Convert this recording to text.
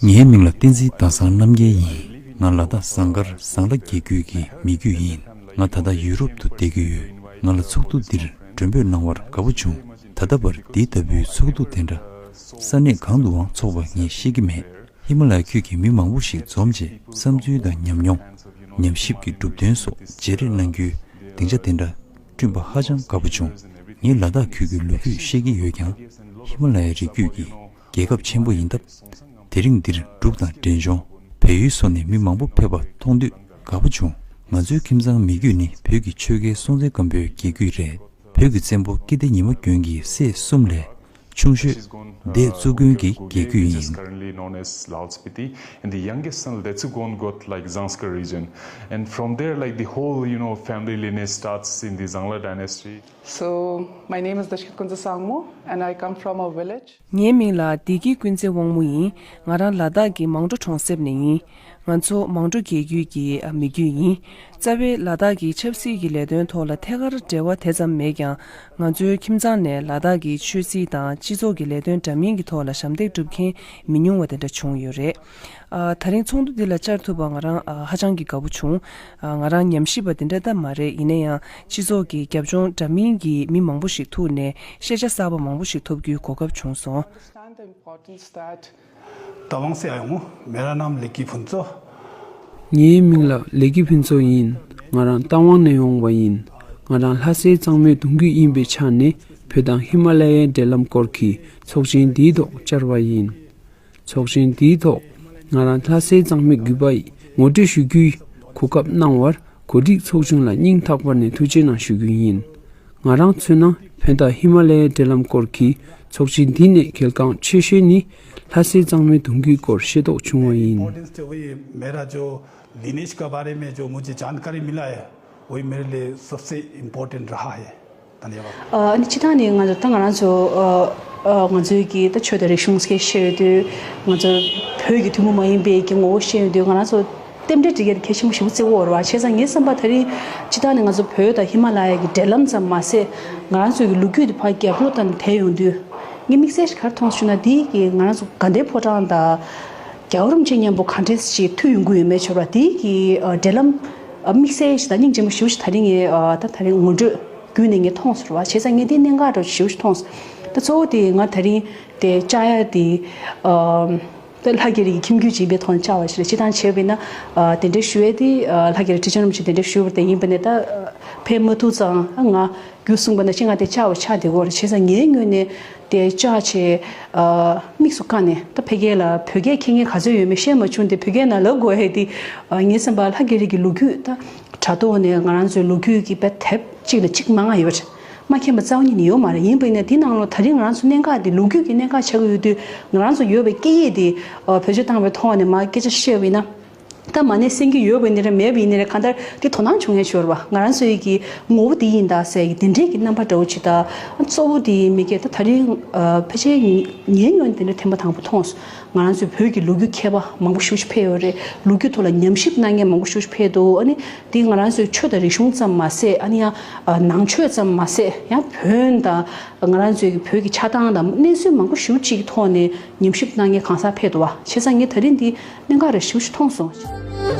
ངའི་མིང་ལ་བསྟན་འཛིན་ཟླ་བཟང་རྣམ་རྒྱལ་ཡིན། ང་ལ་དྭགས་ཟངས་དཀར་ཟངས་ལ་རྒྱལ་རྒྱུད་ཀྱི་མི་རྒྱུད་ཡིན། ང་ད་ལྟ་ཡུ་རོབ་ཏུ་བསྡད་ཀྱི་ཡོད། ང་ལ་ཚོགས་འདུ་འདིར་མགྲོན་འབོད་གནང་བར་དགའ་པོ་བྱུང། ད་ལྟ་བར་འདི་ལྟ་བུའི་ཚོགས་འདུ་དེ་འདྲ་ས་གནས་གང་དུའང་འཚོགས་པ་ངས་ཤེས་ཀྱི་མེད། ཧི་མ་ལའི་ཁུལ་གྱི་མི་མང་པོ་ཞིག་འཛོམས་རྗེས་བསམ་ཚུལ་དང་ཉམས་མྱོང། ཉམས་ཞིབ་ཀྱི་གྲུབ་དོན་སོགས་བརྗེ་རེས་གནང་རྒྱུའི་སྡིངས་ཆ་དེ་འདྲ་བསྐྲུན་པ་ཧ་ཅང་དགའ་པོ་བྱུང། ངས་ལ་དྭགས་ཁུལ་གྱི་ལོ་རྒྱུས་ཤེས་ཀྱི་ཡོད་ཀྱང་ཧི་མ་ལ་ཡའི་རི་རྒྱུད་ཀྱི་རྒྱལ་ཁབ་ཆེན་པོ་ཡིན་སྟབས། དེ་རིང་འདིར་འབྲུག་དང་འབྲས་ལྗོངས་བལ་ཡུལ་སོགས་ནས་མི་མང་པོ་ཕེབས་པ་མཐོང་དུས་དགའ་པོ་བྱུང། ང་ཚོའི་ཁྱིམ་ཚང་མི་རྒྱུད་ནི་བོད་ཀྱི་ཆོལ་ཁའི་སྲོང་བཙན་སྒམ་པོའི་རྒྱལ་རྒྱུད་རེད། བོད་ཀྱི་བཙན་པོ་སྐྱིད་ལྡེ་ཉི་མ་གྱོན་གྱི་སྲས་གསུམ་ལས་ཆུང་ཤོས། འདི་གཙུག་དགོན་གྱི་རྒྱལ་རྒྱུད་ཡིན། ངའི་མིང་ལ་བདེ་སྐྱིད་ཀུན་བརྩེ་དབང་མོ་ཡིན། ང་རང་ལ་དྭགས་ཀྱི་མང་གྲོ་གྲོང་གསེབ་ནས་ཡིན། ང་ཚོ་མང་གྲོ་རྒྱལ་རྒྱུད་ཀྱི་མི་རྒྱུད་ཡིན། རྩ་བའི་ལ་དྭགས་ཀྱི་ཆབ་སྲིད་ཀྱི་ལས་དོན་ཐོག་ལ་ཐད་ཀར་འབྲེལ་བ་དེ་ཙམ་མེད་ཀྱང་ང་ཚོའི་ཁྱིམ་ཚང་ནས་ལ་དྭགས་ཀྱི་ཆོས་སྲིད་དང་སྤྱི་ཚོགས་ཀྱི་ལས་དོན་འདྲ་མིན་གྱི་ཐོག་ལ་ཞབས་འདེགས་སྒྲུབ་མཁན་མི་ཉུང་བ་དེ་འདྲ་བྱུང་ཡོད་རེད། ད་རིང་ཚོགས་འདུ་འདི་ལ་བཅར་ཐུབ་པར་ང་རང་ཧ་ཅང་གི་དགའ་བོ་བྱུང། ང་རང་ཉམས་ཞིབ་པ་དེ་འདྲ་ལྟ་མ་རེད་ཡིན་ན་ཡང་སྤྱི་ཚོགས་ཀྱི་རྒྱབ་ལྗོངས་འདྲ་མིན་གྱི་མི་མང་པོ་ཞིག་ཐུག་ནས་ཤེས་བྱ་གསར་པ་མང་པོ་ཞིག་ཐོབ་རྒྱུའི་གོ་སྐབས་བྱུང་སོང། ད་ལོང་སེ་ཨའི་ངོ་མེ་ར་རྣམ་ལེགས་ཀྱི་ཕུན་ཚོགས། ངའི་མིང་ལ་ལེགས་ཀྱི་ཕུན་ཚོགས་ཡིན། ང་རང་རྟ་དབང་ནས་ཡོང་བ་ཡིན། ང་རང་ལྷ་སའི་གཙང་མའི་གདུང་རྒྱུད་ཡིན་པའི་ཆ་ནས་བོད་དང་ཧི་མ་ལ་ཡའི་འབྲེལ་ལམ་སྐོར་གྱི་ཚོགས་ཆེན་འདིའི་ཐོག་བཅར་བ་ཡིན། ཚོགས་ཆེན་འདིའི་ཐོག་ང་རང་ལྷ་སའི་གཙང་མའི་རྒྱུད་པ་ངོ་སྤྲོད་ཞུ་རྒྱུའི་གོ་སྐབས་གནང་བར་གོ་སྒྲིག་ཚོགས་ཆུང་ལ་སྙིང་ཐག་པ་ནས་ཐུགས་ཆེ་གནང་ཞུ་རྒྱུ་ཡིན། ང་རང་མཚོན་ན་བོད་དང་ཧི་མ་ལའི་འབྲེལ་ལམ་སྐོར་གྱི་ཚོགས་སྤྱི་འདི་ནས་གལ་འགངས་ཆེ་ཤོས་ནི་ལྷ་སའི་གཙང་མའི་དུང་སྐུད་སྐོར་ཤེས་རྟོགས་བྱུང་བ་ཡིན། ཕྱི་ཐ་ནས་ང་ཚོ་ད་ང་རང་ཚོ་ང་ཚོའི་གི་ད་ཆོས་དང་རིག་གཞུང་སྐད་བཤད་ཡོད་དུས་ང་ཚོ་བོད་ཀྱི་ཐུན་མོང་མ་ཡིན་པའི་གི་ངོ་བོ་བཤད་ཡོད་དུས་ང་རང་ཚོ་རྟེན་འབྲེལ་འབྲི་གལ་གལ་ཆེན་པོ་ཞིག་མ་རྩིས་བོར་བར་བྱས་ཙང་ངས་བསམ་པ་ད་རིང་སྤྱི་བཏང་ནས་ང་ཚོ་བོད་དང་ཧི་མ་ལ་ཡ་གི་འབྲེལ་ལམ་ཙམ་མ་ཟད། ང་རང་ཚོའི་གི་ལོ་རྒྱུས་དེ་བར་རྒྱབ་ལོག་ཙམ་དེད་ཡོང་དུས། ངས་དམིགས་བསལ་ཞིག་གར་མཐོང་ཞུ་ན་དེ་ཡི་གི་ང་རང་ཚོ་དགའ་ལྡན་ཕོ་བྲང་དང། རྒྱ་གར་རུམ་ཆེན་མཉམ་པོ་གང་དྲན་ཞིག་མཐུད་ཡོང་གི་ཡོད་མེད་ཆོད་པ་དེ་ཡི་གི་འབྲེལ་ལམ། དམིགས་བསལ་ཞིག་དང་སྙིང་རྗེ་མོ་ཞུ་ཞིག་ད་རིང་ངས་ད་ད་རིང་ངོ་སྤྲོད་བརྒྱུད་ནས་ངས་མཐོང་ཟེར་བར་བྱས་ཙང་ངས་དེ་གནད་འགག་འགྲོ་ཞིག་ཞུ་ཞིག་མཐོང། ད་གཙོ་བོ་དེ་ང་ད་རིང་དེ་བཅའ་ཡ་དེ། ལྷ་རྒྱལ་རིགས་ཀྱི་ཁྱིམ་རྒྱུད་སྦྱིན་པའི་ཐོག་ནས་བཅའ་བ་ཞིག་ལ་སྤྱི་བཏང་བྱས་པས་ན། དེ་འདྲའི་ཞུ་བས་དེ་ལྷ་རྒྱལ་རིགས་ཁྲི་ཆེན་རིན་པོ་ཆེས་དེ་འདྲའི་ཞུས་པར་བརྟེན་ཡིན་པ་ནས་ད་ཕན་མ་ཐུག་ཙང་ང་རྒྱུད་གསུངས་པ་ན་ཅི་ང་དེ་བཅའ་བ་ཆགས་འདི་གོ་རེ་བྱས་ཙང་ངའི་སྔུན་ནས་དེ་བཅའ་བྱས། དམིགས་སུ་བཀར་ནས་ད་ཕེ་རྒྱལ་ལ་བོད་སྐད་མཁྱེན་མཁན་ག་ཚོད་ཡོད་མེད་ཤེས་མ་བྱུང་སྟེ་བོད་སྐད་ན་ལབ་དགོས་ཧེ་དེ། ངས་སེམས་པ་ལྷ་རྒྱལ་རིགས་ཀྱི་ལོ་རྒྱུས་ད་དྲ་ཐོག་ནས་ང་རང་ཚོའི་ལོ་རྒྱུས་ཀྱི་དཔེ་དེབ་གཅིག་ལ་གཅིག་མ་ང་ཡོད། མ་མཁྱེན་པ་རྩ་བ་ཉིད་ནས་ཡོད་མ་རེད་ཡིན་པས་ན་དེ་ནང་ལོ་ད་རིང་ང་རང་ཚོ་གནད་འགག་དེ་ལོ་རྒྱུས་ཀྱི་གནད་འགག་ཆགས་ཀྱི་ཡོད་དུས་ང་རང་ཚོ་ཡོད་པའི་སྐད་ཡིག་དེ་བེད་སྤྱོད་བཏང་བའི་ཐོག་ནས་མ་སྐད་ཆ་བཤད་བས་ན་ད་མ་ནས་སེམས་ཀྱི་ཡོད་བས་ནི་རེད་མེད་བས་ནི་རེད་གང་ལྟར་དེ་དོ་སྣང་བྱུང་ཡ་ཞོར་བ་ང་རང་ཚོའི་ཀྱི་ངོ་བོ་དེ་ཡིན་ད་ཟེར་གྱི་དེ་འདྲའི་ཀྱི་རྣམ་པ་འདྲ་བོ་ཇི་ལྟར་གཙོ་བོ་དེ་མི་སྐད་ད་ད་རིང་ཕལ་ཆེར་ཉན་ཡོང་དེ་འདྲ་ཐེངས་པ་དང་པོ་མཐོང། ང་རང་ཚོའི་བོད་ཀྱི་ལོ་རྒྱུས་མཁས་པ་མང་པོ་ཤུགས་ཆེ་ཕེབས་ཡོད་རེད། ལོ་རྒྱུས་ཐོག་ལ་ཉམས་ཞིབ་གནང་མཁན་མང་པོ་ཤུགས་ཆེ་ཕེབས་འདུག་ཨ་ནི། དེ་ང་རང་ཚོའི་ཆོས་དང་རིག་གཞུང་ཙམ་མ་ཟད་ཨ་ནི་ཡང་ནང་ཆོས་ཙམ་མ་ཟད་ཡང་བོན་དང། ང་རང་ཚོའི་བོད་ཀྱི་ཆགས་སྟངས་དང་གནས་ཚུལ་མང་པོ་ཞུ་གཅིག་གི་ཐོག་ནས་ཉམས་ཞིབ་གནང་མཁན་གང་ཟག་ཕེབས་འདུག་བ། བྱས་ཙང་ངས་ད་རིང་འདི་གནད་འགག་རེད་ཞུ་ཞུ་མཐོང་སོང།